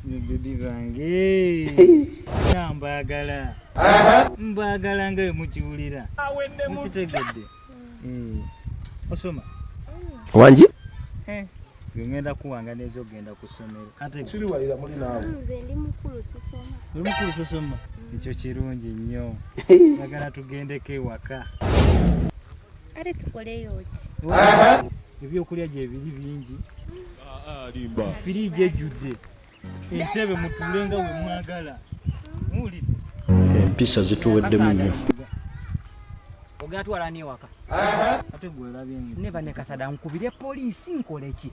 bibi bange na mbagala mbagala nga mukiwulira mukitegedde eh, osoma wangi eh, ngenda kuwanga neza okugenda ku ssomero atemukulu tosoma ekyo kirungi nnyo agala tugendeko ewaka kale tukoleyo ki ebyokulya gyebiri bingi alimba ah, ah, firiigi ejjudde entebe mutuule nga we mwagala muwulidde empisa zituweddemu nnyo ogatwala newaka ate gwe olabye neba ne kasada nkubire poliisi nkoleki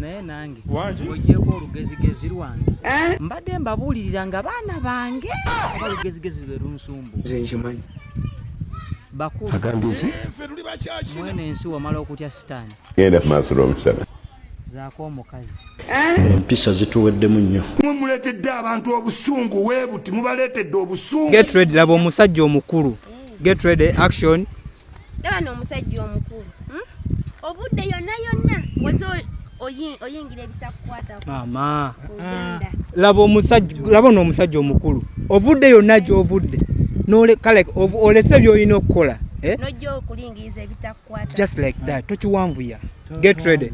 naye nange ogyeko olugezigezi lwange eh? mbadde mbabuulirira nga baana bange oba lugezigezi lwe lunsumbu bakulumwene ensi wamala okutya sitaani zaako omukazi eh? empisa zituweddemu nnyo mwe muleetedde abantu obusungu webuti mubaleetedde obusungu laba omusajja omukulu get ready action laba n'omusajja omukulu hmm? obudde yonna yonna waze oyingira ebitakukwatako mama laba omusajja laba n'omusajja omukulu ovudde yonna gy'ovudde kale olese by'olina okukola eh? nojja okulingiriza ebitakukwata just like that tokiwanvuya get ready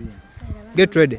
get ready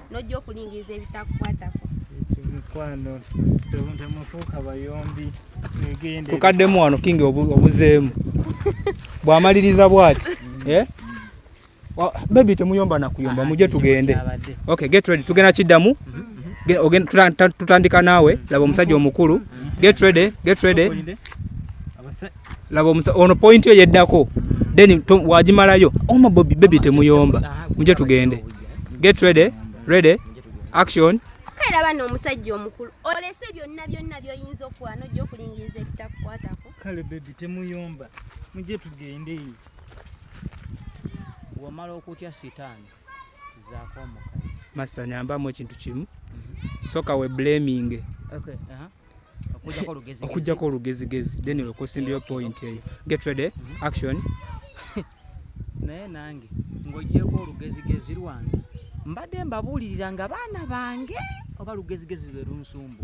nojja okulingiriza ebitakukwatako mikwano temufuuka bayombi egende tukaddemu wano kingi obuzeemu bwamaliriza bwati eh? bebi temuyomba nakuyomba muje tugende okay get ready tugenda kiddamu tutandika naawe laba omusajja omukulu get ready get ready laba omusa ono point yo yeddako then wajimalayo oma oh, bobi baby temuyomba muje tugende get ready ready action kera bana omusajja omukulu olese byonna byonna byoyinza okuwa nojja okulingiriza ebitakukwatako kale baby temuyomba muje tugende wamala okutya sitaani zaako omukazi masanyambamu ekintu kimu soka we blaming okay, uh -huh. okujjako olugezigezi then olwoka osimbyeyo point eyo get ready mm-hmm. action naye nange ng'ogyeko olugezigezi lwange mbadde mbabuulirira nga baana bange oba lugezigezi lwe lunsumbu